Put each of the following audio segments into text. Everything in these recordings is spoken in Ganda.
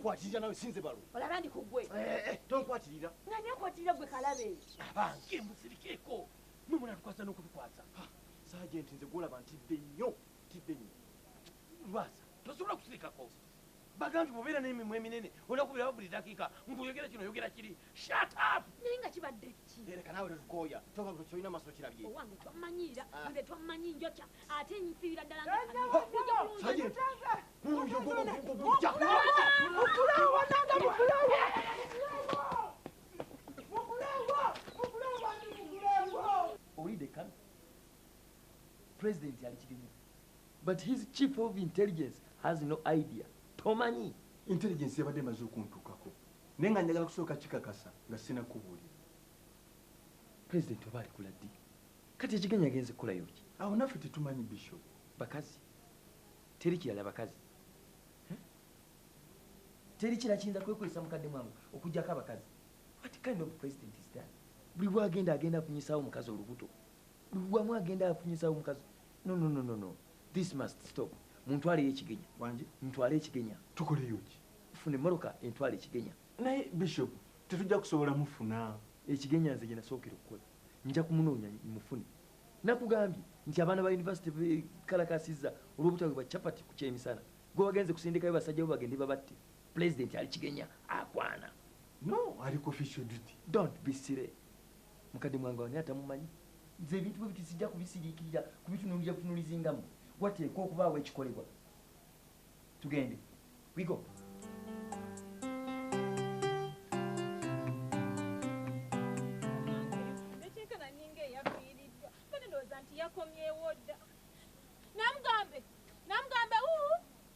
nkwatirira nawe sinze balo olaba ndi kugwe eh, eh, tonkwatirira nani akwatirira gwe kalabe abange musirikeeko mwe munatukwasa n'okutukwasa sajenti nze gwolaba ntidde nnyo ntidde nnyo lwasa Tosobola kusirikako bagambi bobeera n'emimwa eminene onakubiraba buli dakiika mbu oyogera kino oyogera kiri shut up naye nga kibadde ki ereka naawe tetukooya kyoka gwe kyolina maso kirabye owange twammanyiira ah. nze twammanyi njokya ate nfiira ddala olidde kano pulezidenti ali kirimu But his chief of intelligence has no idea tomanyi. Intelligence yabadde emaze okuntukako naye nga njagala kusooka kikakasa nga sinakubuulira. President oba alikula ddi? Kati ekigenyi agenze kukolayo ki? Awo naffe tetumanyi Bishop. Bakazi teri kirala bakazi eh? teri kira kiyinza kwekwesa mukadde mwangu okujjako abakazi what kind of president is that? Buli lwagenda agenda afunyisawo omukazi olubuto buli lwamu agenda afunyisawo omukazi No no no no no. This must stop. Muntwaleyo ekigenya. Wangi. Mutwale ekigenya. Tukoleyo ki? Fune moroka entwale ekigenya. Naye bishop tetujja kusobola mufuna. Ekigenya nze gyenasookera okukola. Nja kumunoonya mufune. Nakugambye nti abaana ba university bekalakasizza olwobutaweebwa chapati ku kyemisana. Gwe wagenze kusindikayo basajja bo bagende babatte. Pulezidenti ali kigenya akwana. No ali ku official duty. Don't be silly. Mukadde mwange wani atamumanyi? Nze ebintu bwebiti sijja kubisiriikirira kubitunulira butunulizi nga mwe. Wateekwa okubaawo ekikolebwa. Tugende. We go.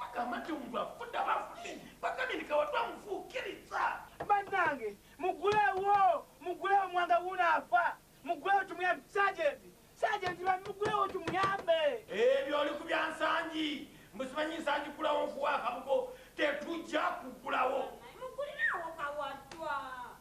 Bagamba nti omuntu afudde aba afudde, bagambye nti kawatu amufuukirizza. Bannange mugulewo mugulewo mwanga wuuno afa mugulewo tumuyambe sajenti sajenti bambi mugulewo tumuyambe. Ebyo oli ku bya Nsangi mbu simanyi Nsangi ggulawo nfuuwa akabugo tetujja kuggulawo. Mugulire awo kawattwa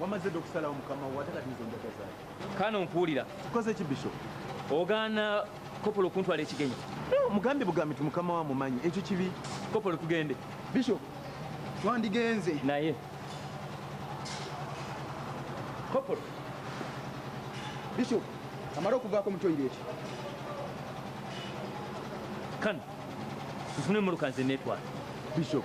Wamaze dda okusalawo mukama wo ate kati nze njaga zaaki? Kaana ompuulira. Nkoze ki Bishop? Ogaana kopolo okuntwala ekigenyi. Eh, Mugambi bugambi nti mukama wo amumanyi ekyo kibi. Kopolo tugende. Bishop twandigenze. Naye kopolo. Bishop amale okuvaako mu toilet. Kano nfune emmotoka nze neetwala. Bishop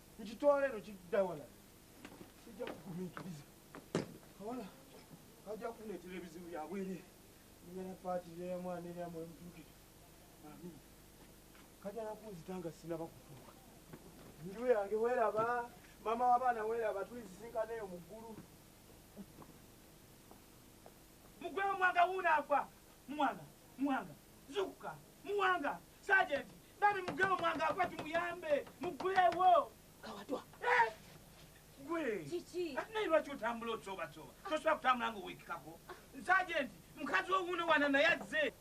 Nkitwala eno kidda wala. Sijja kugumiikiriza. Kawala kajja kuneetera ebizibu bya bwereere. Nina na paati ya mwana era mwe mutuukire. Amin. Kajja nakunzita nga sinaba kutuuka. Nju yange weeraba, maama w'abaana weeraba, tulisisinkana eyo mu ggulu. Mugwewo mwanga wuuno agwa. Muwanga, muwanga, zuukuka, muwanga. Sergeant, bambi mugwe omwanga akuba tumuyambe. Mugwewo. Kawadwa. Eh? Gwe. Kiki? Ati naye lwaki otambula otsoba tsoba? Tosobola kutambula nga owekikako. Sergeant, mukazi owuno wana naye azze.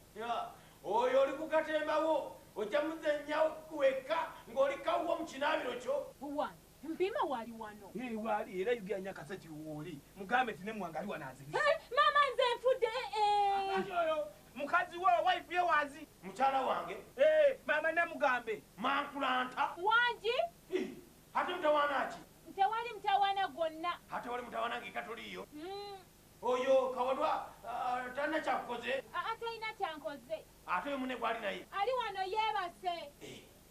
Oyo oli ku katembawo ojja muzenyawo wekka ng'oli kawuwo mu kinaabiro kyo. Buwani. Mpiima wali wano. Hee wali era yogera nyo akasajja woli mugambe nti ne mwanga ali wano anzirisa. Hee mama nze nfudde eeh. Ani oyo mukazi wo wife ye wazi. Mukyala wange. Hee mama namugambe. Mankulanta. Wangi. Hii ate mutawaana ki. Tewali mutawaana gwonna. Haa tewali mutawaana nga eka toliiyo. Uhmm. Oyo kawalwa talina kyakukoze. Haa talina kyankozze. Ate oyo munne gwali naye. Ali wano yebase. Eeh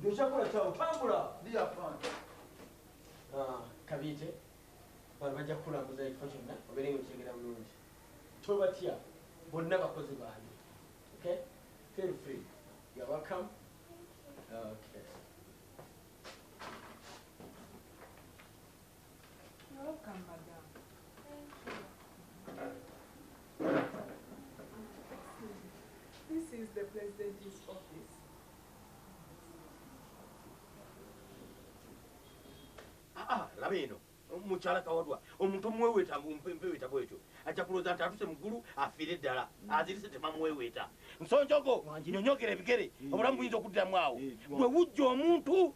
Ndokyakula kyawo tambula dear fan. Ah, kabiite bano bajja kukulambuza ekifo kyonna obeere nga okitegera bulungi tobatya bonna bakozi bange okay feel free you're welcome okay mukyala kawadwa omuntu omuweweeta mpeweeta bwetyo ajja kulooza nti atuse muggulu afiire ddala mm. azirise temamuweweeta nsonjogo nyonyogera ebigere mm. obulamu buyinza okuddiramu awo bwe mm. wujja omuntu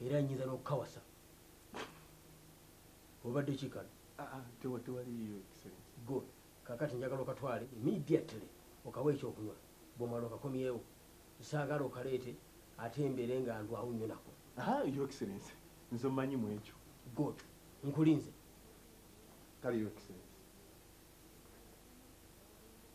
Era nyinza nokukawasa. Obadde ki kano? Ah, ah, tewa tewaliyo excellence. Good. Kakati njagala okatwale immediately okawe ekyokunywa bwomala okakomyewo. Saagala okaleete ate mbeere nga ndwawo nnyo nako. Aha, ah, your excellence. Nze omanyi mu ekyo. Good. Nkulinze. Kale your excellence.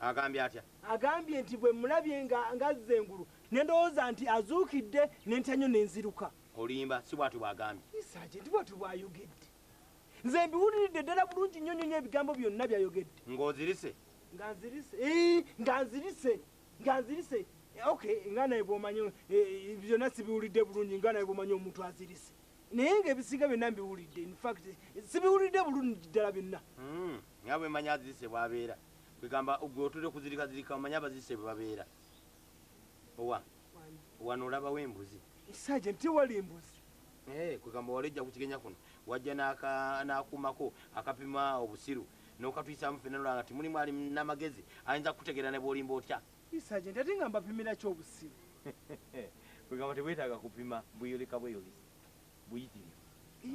Agambye atya? Agambye nti bwe mmulabye nga ng'azze engulu ne ndowooza nti azuukidde ne ntya nnyo ne nziruka. Olimba, si bwatyo bw'agambye. Yii Saajenti bwatyo bw'ayogedde? Nze mbiwuliridde ddala bulungi nnyo nnyo nnyo ebigambo byonna by'ayogedde. Ng'ozirise? Nga nzirise, yii nga nzirise, nga nzirise. Ok, nga nawe bw'omanyi eeh byonna sibiwulidde bulungi nga nawe bw'omanyi omuntu azirise. Naye ng'ebisinga byonna mbiwulidde. In fact sibiwulidde bulungi ddala byonna. Humm, nga bwe mmanyi azirise bw'abeera. Kwegamba gwe otudde kuzirika zirika omanyi abazise bwebabeera owa wano olabawo embuzi sage nti wali embuzi ee eh, kwegamba wali ojja kukigenya kuno wajja nakumako akapima obusiru nokatwisamu fena nolanga ti mulimu ali namagezi ayinza kukutegeera nebwolimba otya sage nti ate nga mbapimira ki obusiru kwegamba tebwetaaga kupima bweyoleka bweyolisa buyitirivu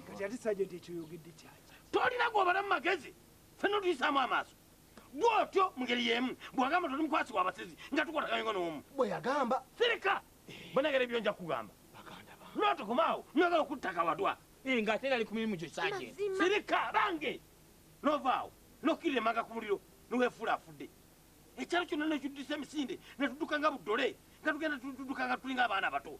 kati ate sajenti ekyoyogedde kyaki tolina gwobalamu magezi fena otuyisaamu amaaso bwotyo mungeri yemu bwagamba toli mukwasi wabasezi nga tukwataganye nga noomu bweyagamba sirika banagera ebyo nja kugamba notokomaawo nogala okuttaka wadwa eh, nga ate nali ku mirimu gyo sajenti sirika bange novaawo nokirira emanga ku muliro niwefuula afudde ekyalo kyonna nekiddisa emisinde netudduka nga buddole nga tugenda tudduka nga tulinga abaana abato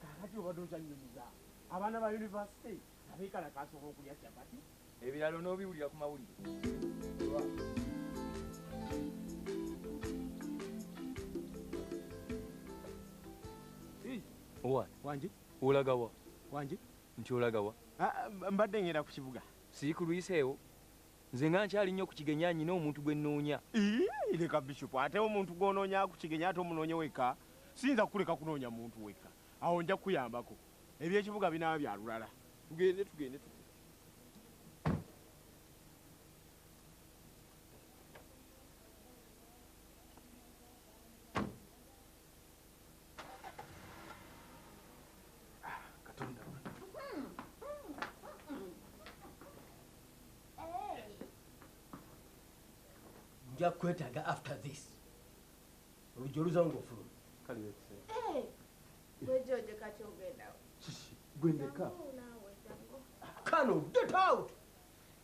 Kakati obadde okyanyumiza abaana ba university abekalakaasa olwokulya chapati? Ebirala onobiwulira ku mawulire. Owa wangi olagawa wangi nti olagawa? Ah, mbadde ngenda ku kibuga. Siikuluyiseewo Nze nga nkyali nyo kukigenyaa nyina omuntu gwe noonya. Iih leka Bishop ate omuntu gwonoonya akukigenye ate omunoonye wekka? Siyinza kukuleka kunoonya muntu wekka awo nja kukuyambako. Ebyekibuga binaaba bya lulala. Tugende tugende tugende. nja kwetaaga after this oluggi oluzawo ngaofuluma gwendeka kano get out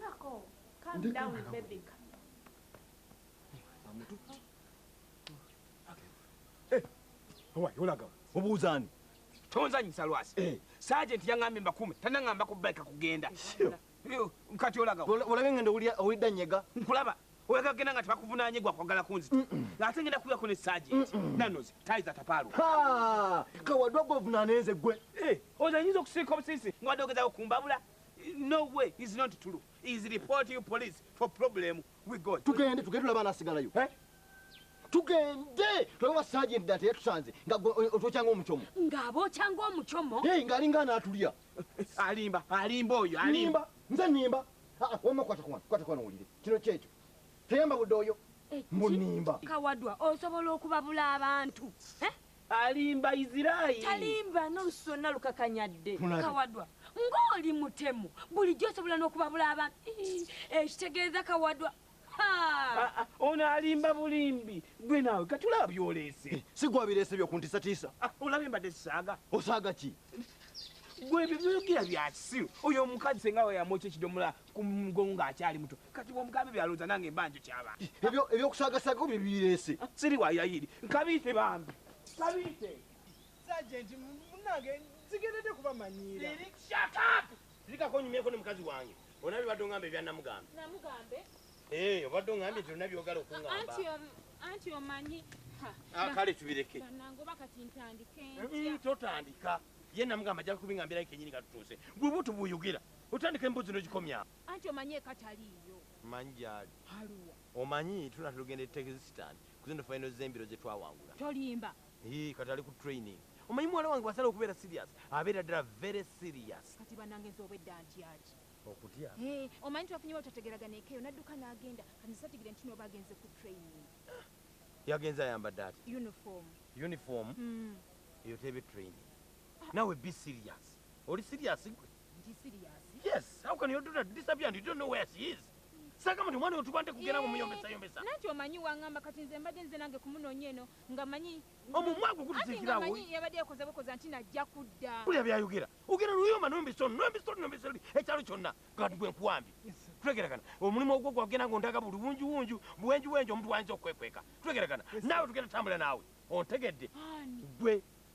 Nako, calm Ndi down kumala baby. wuli. Owaye olaga obuuza ani? tonzanyisa lwasi Eh. sajenti yaŋambye mbakume tanaŋamba ku bike kugenda Sure. Yo, kati olaga wa? Ola- Olabye ngenda owulira owulidda nyega. nkulaba oyagala kugenda nga tebakuvunanye gwa kwagala kunzita nga ate ngenda kuyako ne sajenti nanozi tayi zatapaalu Ha! Kawadwa gwe ovunaana enze gwe. Eh, oza nyinza okusiika obusisi nga wadde ogezaako kumbabula No way is not true is report you police for problem we go tugende tugende tulaba anasigalayo eh? tugende tulabe wa sergeant data yatusanze nga otwokyanga omucomo ng'abokyanga omucomo hey, ng'alinga anaatulya alimba alimba oyo alimba nze nimba ah, ah, wamma kwata kwana kwata kwana wulire kino kyekyo teyamba budde oyo munimba kawadwa osobola okubabula abantu eh? Alimba Israel. Talimba nolusu lwonna lukakanya dde. Kawadwa ngoli mutemu bulijjo osobola nokubabula abantu ii ekitegeeza kawadwa haa. Aa ono alimba bulimbi gwe naawe kati olaba byoleese. Eh, si gwe abireese byo kuntisatiisa. Ah, olabye mbadde sisaaga. Osaaga ki? Gwe ebyo byoyogera byakisiru. Oyo omukazi senga we yamwokya ekidomola kumugongo ng'akyali muto kati bwomugamba ebyo alowooza nange mba njukyaba ebyo ebyokusagasaga bye bireese siri wa yayiri nkabiite bambi kabiite sajenti munange nzigendedde kuba manyiira zikako nyumyeko ne mukazi wange ona bibadde ongamba ebyanamugambe namugambe ee eh, obadde ongambye nti olina byogala okungamba anti omanyi ah, kale tubireke nangoba kati ntandike eh, mm, totandika ye namugamba ajja kubingambirayo kenyini katutuuse gwe butu buyugira Otandika embozi nogikomya awo. Anti omanyi eka taliiyo. Manyi gyali. Aluwa? Omanyi tunatera ogenda e Texstan kuzino final zembiro zetwawangula. Tolimba. Yii kati ali ku training. Omanyi muwala wange bwasalawo okubeera serious abeera ddala very serious. Kati banange nze obwedda ntyaki. Okutya? Hee omanyi twafunye wetutategeragana eka eyo nadduka nagenda kati nze sategera nti noba agenze ku training. Yagenze ayambadde atya? Uniform. Uniform? Uhmm. Eyo tebe training. Nawe be serious. Oli serious gwe? Ndi serious. Yes, how can your daughter disappear and you don't know where she is? Saka mtu mwana utubande kugera mu muyombesa yombesa. Eh, nanti omanyi wangamba kati nze mbadde nze nange kumunonya eno nga manyi omumwago kutuzikira wo. Anti yabadde yakoze bukoze anti najja kudda. Kule byayogera. Ugera luyoma nombi so nombi so nombi so ekyalo kyonna kati bwe nkwambi. Tulegerakana. Omulimu ogwo gwagenda ngo ndaga buli bunju bunju bwenju bwenju omuntu wanzo kwekweka. Tulegerakana. Nawe tugenda tambula nawe. Ontegedde. Gwe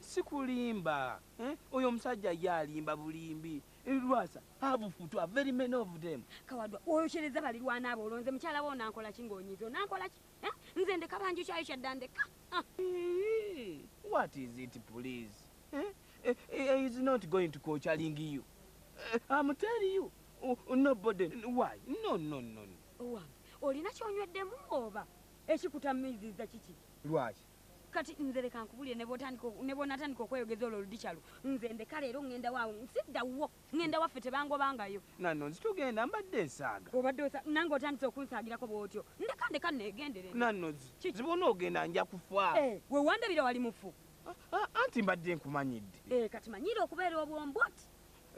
Sikulimba eh oyo omusajja ye alimba bulimbi eh Lwasa have futwa very many of them. Kawadwa oyokyereza balirwana abo olwo nze mukyala wo onankolaki nga onyize onankolaki eh nze ndeka banjukyayukya dda ndeka ah. Iiii what is it please eh eh eh is not going to kochaling you eh, I'm tell you uh, nobody why no no no no. Owange olina kyonyweddemu oba ekikutamiziza kiki? Lwaki Kati nze leka nkubulire nebwonatandika okweyogeza olwo ludikyalu nze ndeka leero ngenda waawo nsidda wuwo ngenda waffe tebangobangayo nanno nzi tugenda mbadde nsaaga obadde osa nange otandise okunsaagirako bwotyo ndeka ndeka negendere nanno zi bwonoogenda nja kufa eh, wewandabira wali mufu ah, ah, anti mbadde nkumanyidde eh, kati manyiira okubeera obwombwati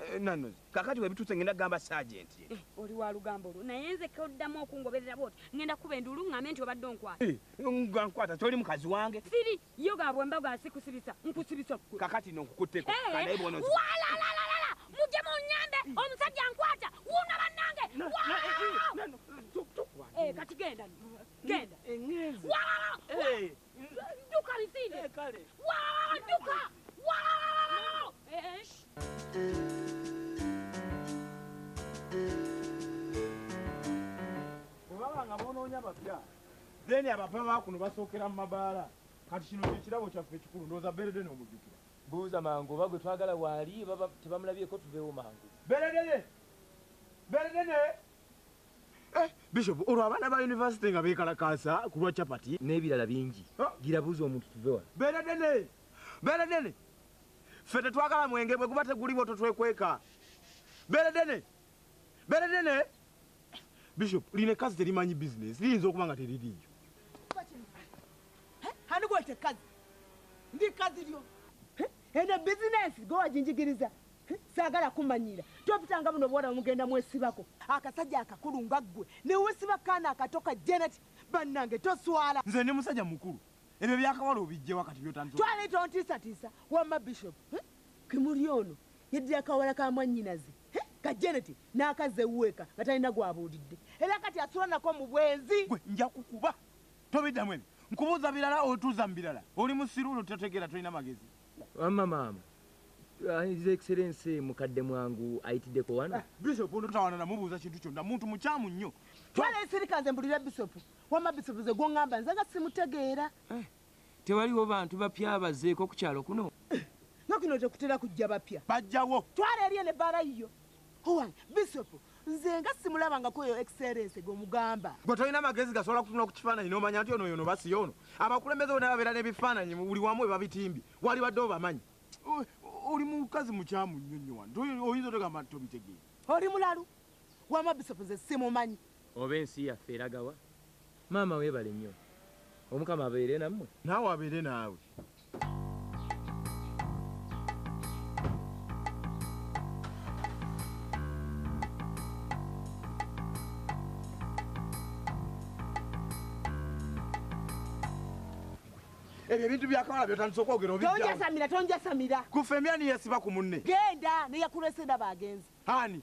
Eh, nano kakati webituuse ngenda kugamba sergeant ye eh, oli wa lugambo lwo naye nze koddamu okungoberera bwoti ngenda kuba enduulu ngambe nti obadde onkwata eh, nga nkwata toli mukazi wange siri yo gabwe mbago asikusibisa nkusibisa kwe kakati no nkukutteko kanaye bwono walalalala mujje munyambe omusajja nkwata wuuno bannange kati genda genda walalalala then abava bakuno basookera mu mabaala kati kino kyekirabo kyaffe ekikulu ndowooza berede nomujjukira buuza mangu oba gwe twagala waali tebamulabyeko tuveewo mangu berede ne berede ne Eh, bishop olwo abaana ba yunivasite nga beekalakaasa ku lwa capati n'ebirala bingi ah. gira buuza omuntu tuve wano beera dene beera dene ffe tetwagala mwenge bwe guba teguliwo totwekweka beera dene beera dene bishop lino ekkazi terimanyi bizinesi liyinza okuba nga teririiyo anigwete kazi ndi kazi lyo ene bizinesi gwe wajinjigiriza Saagala kumanyira. Topitanga buno buwarabu mugenda mwesibako. Akasajja akakulu nga ggwe newesiba kukaana akato ka Janet bannange toswala. Nze ndi musajja mukulu ebyo byakawala obijjewa kati byotandise. Twale tontiisatiisa wamma Bishop eh kimuli ono yeddira kawala ka mwannyinaze eh ka Janet n'akazza ewuwe eka nga talina gw'abuulidde era kati asula nako mu bwenzi. Ggwe nja kukuba tobiddamu ebyo nkubuuza birala otuuza mu birala oli musiru ono totegeera tolina magezi. Wamma maama uh, His Excellency mukadde mwangu ayitiddeko wano. Eh, Bishop ono tutawana namubuuza kintu kyonna muntu mukyamu nnyo. Twala esirika nze mbulira Bishop. Wamma Bishop ze gwongamba nze nga simutegeera. Eh, tewaliwo bantu bapya abazeeko ku kyalo kuno? Eh, nga kuno tekutera kujja bapya. Bajjawo. Twala eriyo ne baala yiyo. Owange Bishop nze nga simulabangako oyo excellence gwe mugamba. Gwe tolina magezi gasobola kutunula ku kifaananyi n'omanya nti ono yono basi yono. Abakulembeze bona babeera n'ebifaananyi buli wamu we babitimbye. Waalibadde obamanyi. Oli mukazi mukyamu nnyo nnyo wano. Oyinza otogamba nti tobitegeera. Oli mulalu. Wama Bishop nze simumanyi. Oba ensi yaffe eragawa? Maama webale nnyo omukama abeere namwe. Naawe abeere naawe. Ebyo ebintu bya kawala byotandise okwogera obijjawo. Tonjasamira, tonjasamira. Ku ffembi ani yeesiba ku munne? Genda ne yakulese ndaba agenze. Ani?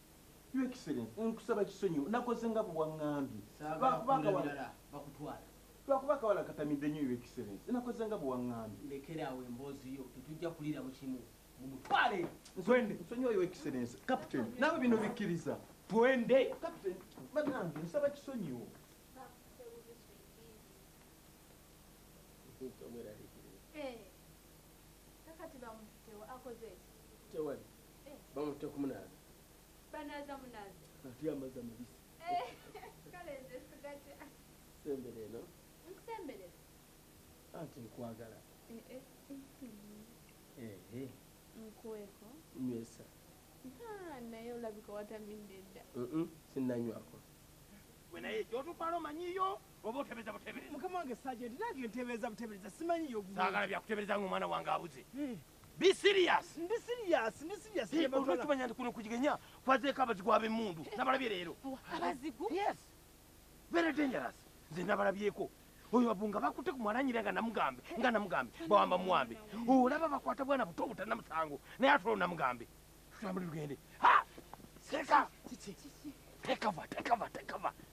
Your Excellency, nkusaba kisonyiwo nakoze nga bwewangambye lwakuba akawala katamidde nnyo Your Excellency, nakoze nga bwewangambye. Lekera awo emboozi yo, tetujja kuliiramu kimu. Mumutwale! Twende! Nsonyiwa Your Excellency. Captain, nawe bino bikkiriza. Twende! Captain, banange nsaba kisonyiwo. Hey. Kakati bamufitewo akoze. Tewali. bamutte kumunaaza banaaza munaaza ate amazzi amabisi eh, kale nze sigatya sembera eno nkusemberera anti nkwagala eh, eh. nkuweko nywesa naye olabika watamidde dda sinnanywako gwe naye gyotutwala omanyiyo oba otebereza butebereza mukama wange sajenti nange ntebereza butebereza simanyiyo saagala byakutebereza ngaomwana wange abuze Be serious. Ndi serious, ndi serious. Hey, olwa tumanya ndi kuno kujigenya kwazeko abazigu abemundu. Nabalabye leero. Abazigu? Yes. Very dangerous. Nze nabalabyeko. Oyo abunga bakute kumwananyira nga namugambe, nga namugambe, bawamba muwambe. Olaba bakwata bwana buto butana musango. Naye atolo namugambe. Tutambule tugende. Ha! Seka. Take cover, take cover, take cover.